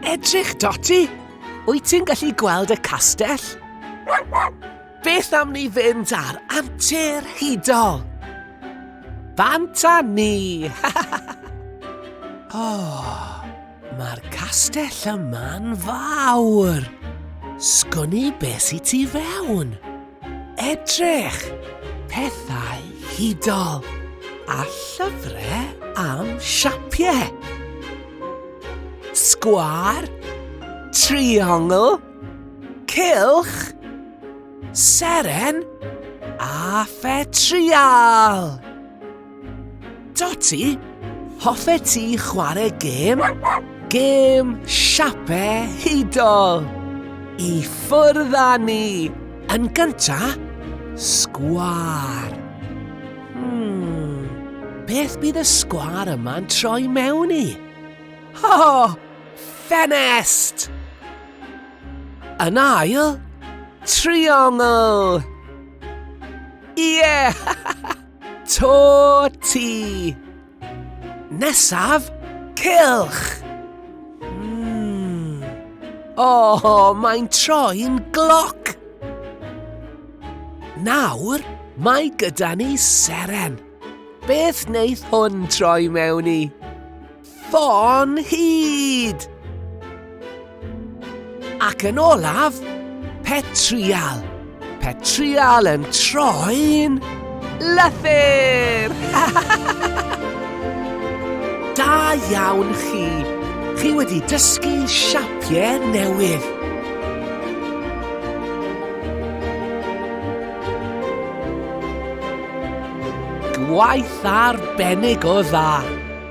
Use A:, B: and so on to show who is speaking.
A: Edrych, Dotty! Wyt ti'n gallu gweld y castell? Beth am ni fynd ar antur hudol? Bant a ni! oh, mae'r castell yma'n fawr. Sgwn i beth i ti fewn. Edrych! Pethau hudol a llyfrau am siapiau. Sgwar, triongl, cylch, seren a phetrial. Dotty, hoffe ti chwarae gêm? Gêm siape hudol! I ffwrdd â ni! Yn gynta, sgwar. Hmm, beth bydd y sgwar yma'n troi mewn i? Ho! Oh, ffenest! Yn ail, triongl! Ie! Yeah! To ti! Nesaf, cilch! Mm. O, oh, mae'n troi'n gloc! Nawr, mae gyda ni seren. Beth wneith hwn troi mewn i? Ffôn hud! Ac yn olaf, petrial. Petrial yn troi'n lythyr! da iawn chi! Chi wedi dysgu siapiau newydd. Gwaith arbennig o dda!